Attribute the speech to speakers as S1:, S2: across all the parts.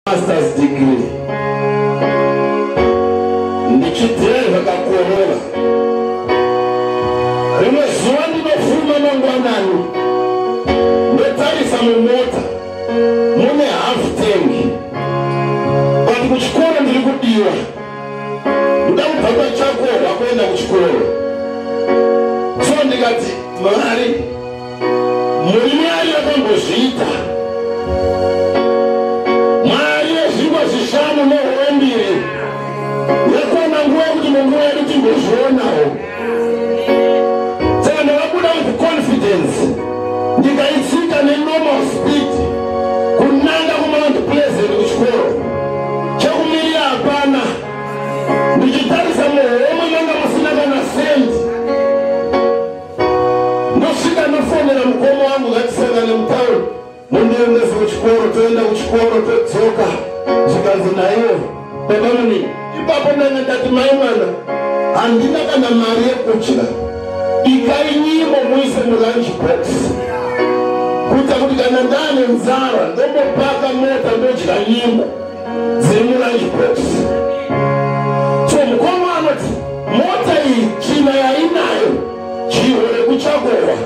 S1: masters degree ndichidzira zvakakorora rimwe zuva ndinofuma mangwanani ndotarisa mumota mune half tank but kuchikoro ndiri kudiwa ndoda kubva pachakorwa kuenda kuchikoro so ndikati mari Murume ayo akambozviita mari yezvingwa zvishanu nehove mbiri yakwana nguva yekuti munguva yedu timbozvionawo saka ndakabuda with confidence ndikaitsika nenormal speed kunanga kumount pleasant kuchikoro chekumirira hapana ndichitarisa muhomwe manga musina kana sendi Ndosvika ndofonera mukoma wangu ngatisangane mutown mundiendese kuchikoro toenda kuchikoro todzoka zvikanzi naiwo baba muni ipapo ndanga ndati mai mwana handina kana mari yekudya ikai nyimo muise mulunch box kuita kuti kana ndane nzara ndombopaka mota ndodya nyimo dziri mulunch box so mukoma anoti mota iyi tsvina yainayo chihwo rekuchakowa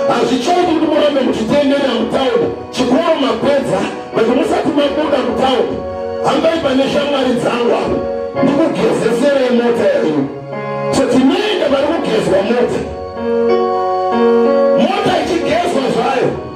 S1: hazvichaiti kuti murambe muchitendera mutown chikoro mapedza but musati mabuda mutown hambai pane shamwari dzangu avo ndikugezeserei mota yaino so tinoenda vari kugezwa mota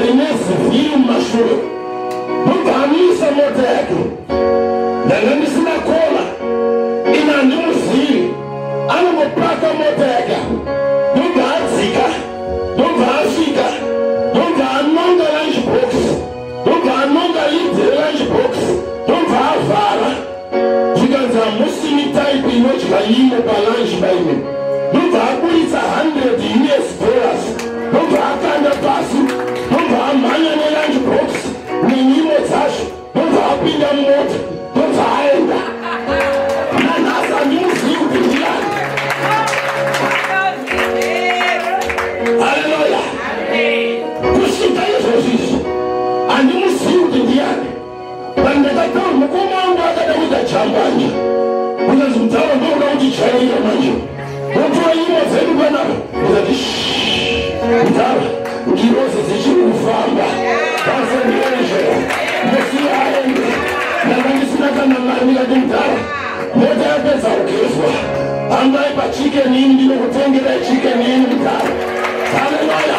S1: rine zivhiri mumashure ndobva amisa mota yake ndanga ndisina kola ini handimuzivi anongopaka mota yake ndobva adzika ndobva asvika ndobva anonga lunch box ndobva anonga lidzi relunch box ndobva avhara zvikanzi hamusimi type inodya nyimo palunch baime ndobva aburitsa 100 us dollars ndobva akanda pasi ndobva amhanya nelunch box nenyimo dzacho ndobva apinda mumota ndobva aenda nanhasi handimuzivi kuti ndiyani haleluya kusvika izvozvizvi handimuzivi kuti ndiyani Pandakataura mukoma wangu akada kuita chambanje kunyanzi mudhara ndokuda kuti chaira manje wotora imwe dzedu panapa ndikati mudhara ngirozi dzichiri kufamba kasendeezvo ndosiya aende ndanga ndisina kana mari ndikati mudhara mota yapedza kugezwa hambai pachicken ini ndinokutengera chicken ini mudhara haleluya